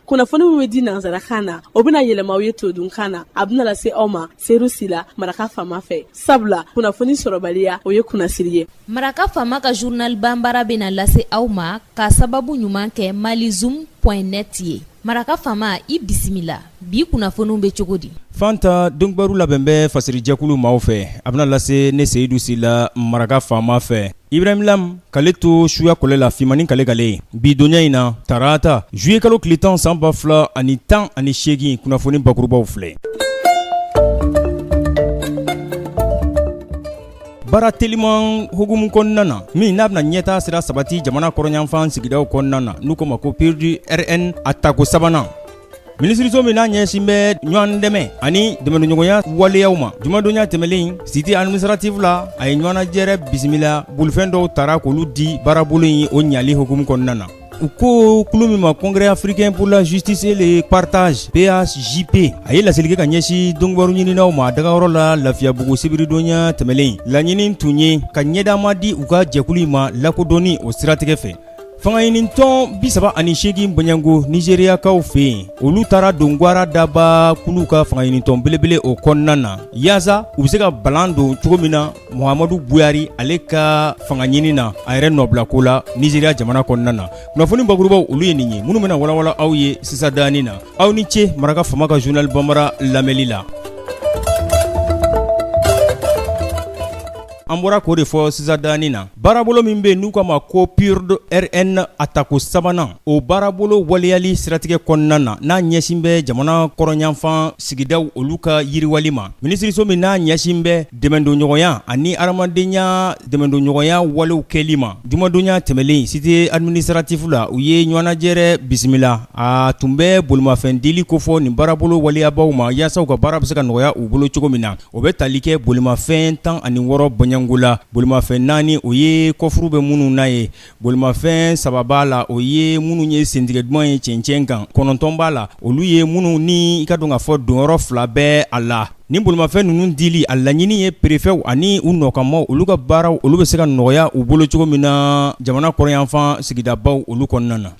kunnafoni min bɛ di nansarakan na o bɛna yɛlɛma aw ye todunkan na a bɛna lase aw ma seyidu sila maraka faama fɛ sabula kunnafoni sɔrɔbaliya o ye kunnasiri ye maraka faama ka journal banbara bɛna lase aw ma k'a sababu ɲuman kɛ malizoom point net ye maraka faama i bisimila bi kunnafoniw bɛ cogo di fanta donkibaru labɛn bɛ fasirijɛkulu maaw fɛ a bɛna lase ne seyidu sila maraka faama fɛ ibrahim lam k'ale to suya kɔlɛ la fimani k'ale kala bi donya in na tarata zuye kalo tile tan san ba fila ani tan ani seegin kunnafoni bakurubaw filɛ baara teliman hukumu kɔnɔna na min n'a bɛna ɲɛtaa sira sabati jamana kɔrɔnyanfan sigidaw kɔnɔna na n'u ko ma ko PURD RN a tako sabanan minisiriso min n'a ɲɛsin bɛ ɲɔgɔn dɛmɛ ani dɛmɛdonɲɔgɔnya waleyaw ma jumadonya tɛmɛnlen cité administrative la a ye ɲɔgɔnnajɛrɛ bisimila bolifɛn dɔw tara k'olu di baarabolo in o ɲali hukumu kɔnɔna na u ko kulu min ma congrès africain pour la justice et le partage PAJP a ye laseli kɛ ka ɲɛsin donkibaru ɲininaw ma dagayɔrɔ la lafiyabugu sibiridonya tɛmɛlen laɲini tun ye ka ɲɛdama di u ka jɛkulu in ma lakodɔnni o siratigɛ fɛ Fanga ɲinitɔn bi saba ani seegin bɔɲɔgɔnko nizeriyakaw fɛ yen olu taara don gwara daba kulu ka fanga ɲinitɔn belebele o kɔnɔna na yaasa u bɛ se ka balan don cogo min na muhamadu buhari ale ka fanga ɲinin na a yɛrɛ nɔbilako la nizeriya jamana kɔnɔna na kunnafoni bakurubaw olu ye nin ye minnu bɛna walawala aw ye sisandanin na aw ni ce maraka faama ka journal banbara lamɛnli la An bɔra k'o de fɔ sisandanin na baarabolo min bɛ n'u ko ma ko PURD RN a tako sabanan o baarabolo waleyali siratigɛ kɔnɔna na n'a ɲɛsin bɛ jamana kɔrɔnyanfan sigidaw olu ka yiriwali ma minisiriso min n'a ɲɛsin bɛ dɛmɛdonɲɔgɔnya ani hadamadenya dɛmɛdonɲɔgɔnya walew kɛli ma jumadonya tɛmɛnlen cité administrative la u ye ɲɔgɔnnajɛrɛ bisimila a tun bɛ bolimafɛn dili kofɔ nin baarabolo waleyabaaw ma yaasa u ka baara bɛ se ka nɔgɔya u bolo cogo min na O bɛ tali kɛ bolimafɛn tan ani wɔɔrɔ bɔɲɔgɔnko la bolimafɛn naani o ye kɔfuru bɛ minnu na ye bolimafɛn saba b'a la o ye minnu ye sentigɛ duman ye cɛncɛn kan kɔnɔntɔn b'a la olu ye minnu ni i k'a dɔn k'a fɔ donyɔrɔ fila bɛ a la ni bolimafɛn ninnu dili a laɲini ye perefɛw ani u nɔkanmaaw olu ka baaraw olu bɛ se ka nɔgɔya u bolo cogo min na jamana kɔrɔnyanfan sigidabaw olu kɔnɔna na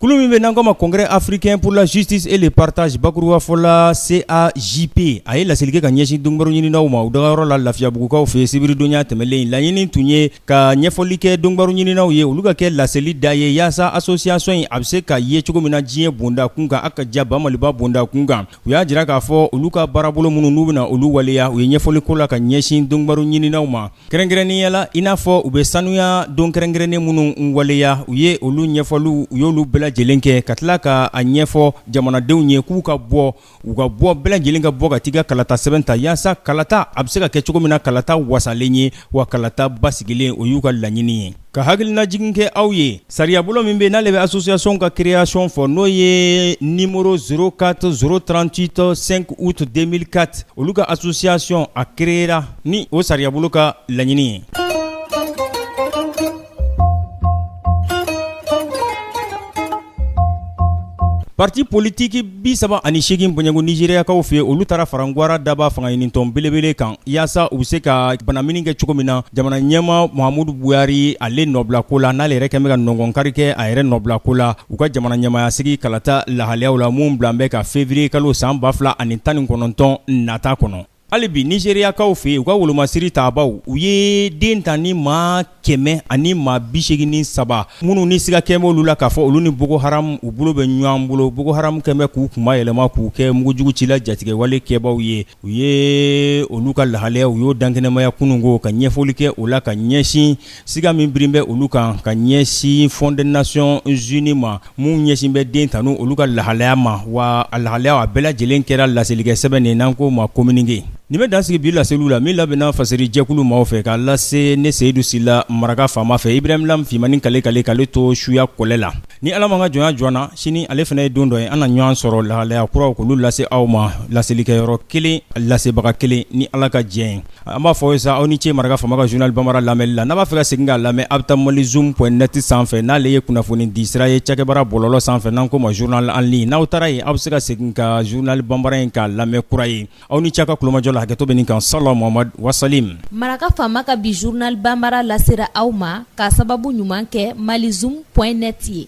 Kulu min bɛ n'an ko ma congrès africain pour la justice et le partage bakurubafɔ la CAJP a ye laseli kɛ ka ɲɛsin donkibaru ɲininaw ma u dagayɔrɔ la lafiyabugukaw fɛ sibiridonya tɛmɛnlen in laɲini tun ye ka ɲɛfɔli kɛ donkibaru ɲininaw ye olu ka kɛ laseli da ye yaasa association in a bɛ se ka ye cogo min na diɲɛ bonda kunkan a ka ja ba maliba bonda kunkan u y'a jira k'a fɔ olu ka baarabolo minnu n'u bɛna olu waleya u ye ɲɛfɔli ko la ka ɲɛsin donkibaru ɲininaw ma kɛrɛnkɛrɛnnenya la i n'a fɔ u bɛ sanuya don kɛrɛnkɛrɛnnen minnu waleya u ye olu ɲɛfɔliw u y'olu bɛɛ lajɛlen kɛ ka tila k'a ɲɛfɔ jamanadenw ye k'u ka bɔ u ka bɔ bɛɛ lajɛlen ka bɔ ka t'i ka kalata sɛbɛn ta yaasa kalata a bɛ se ka kɛ cogo min na kalata wasalen ye wa kalata basigilen o y'u ka laɲini ye ka hakililajigin kɛ aw ye sariyabolo min bɛ n'ale bɛ association ka création fɔ n'o ye numéro 04 038 5 août 2004 olu ka association a créera ni o sariyabolo ka laɲini ye. Pati politigi bi saba ani seegin bɔɲɔgɔnko Nizeriyakaw fɛ olu taara fara gwara daba fanga ɲinitɔn belebele kan yaasa u bɛ se ka banamini kɛ cogo min na jamana ɲɛmaa Muhamadu Buhari ale nɔbila ko la n'ale yɛrɛ kɛn bɛ ka nɔgɔnkari kɛ a yɛrɛ nɔbila ko la u ka jamana ɲɛmaaya sigi kalata lahalayaw la min bilan bɛ ka février kalo san ba fila ani tan ni kɔnɔntɔn nata kɔnɔ Hali bi Nizeriyakaw fɛ yen u ka wolomasiri tabaaw u ye den ta ni maa kɛmɛ ani maa bisegin ni saba minnu ni siga kɛn bɛ olu la k'a fɔ olu ni Boko Haram u bolo bɛ ɲɔgɔn bolo Boko Haram kɛn bɛ k'u kun mayɛlɛma k'u kɛ mugujugu cila jatigɛwale kɛbaaw ye u ye olu ka lahalaya u y'o dankɛnɛmaya kunun ko ka ɲɛfɔli kɛ o la ka ɲɛsin siga min birin bɛ olu kan ka ɲɛsin Fonds des Nations Unies ma min ɲɛsin bɛ den tanu olu ka lahalaya ma wa a lahalaya a bɛɛ lajɛlen kɛra laselikɛ sɛbɛn nin n'an k'o ma kominike nin bɛ dansigi bi laseliw la min labɛnna Fasiri jɛkulu maaw fɛ k'a lase ne seyidu sila maraka faama fɛ Ibrahim Lam fimani kale kale k'ale to suya kɔlɛ la ni ala m'an ka jɔnya jɔ an na sini ale fana ye don dɔ ye an na ɲɔgɔn sɔrɔ lahalaya kuraw k'olu lase aw ma laselikɛyɔrɔ kelen lasebaga kelen ni ala ka jɛn ye An b'a fɔ sa aw ni ce maraka faama ka journal Bambara lamɛnli la n'a b'a fɛ ka segin k'a lamɛn a' bɛ taa Malizoom point net sanfɛ n'ale ye kunnafoni di sira ye cakɛbara bɔlɔlɔ sanfɛ n'an k'o ma journal en ligne n'aw taara yen aw bɛ se ka segin ka journal Bambara in k'a lamɛn kura ye aw ni ce a' ka kulomajɔ la hakɛto bɛ nin kan sala Muhamad wa salim Maraka faama ka bi journal Bambara lasera aw ma k'a sababu ɲuman kɛ Malizoom point net ye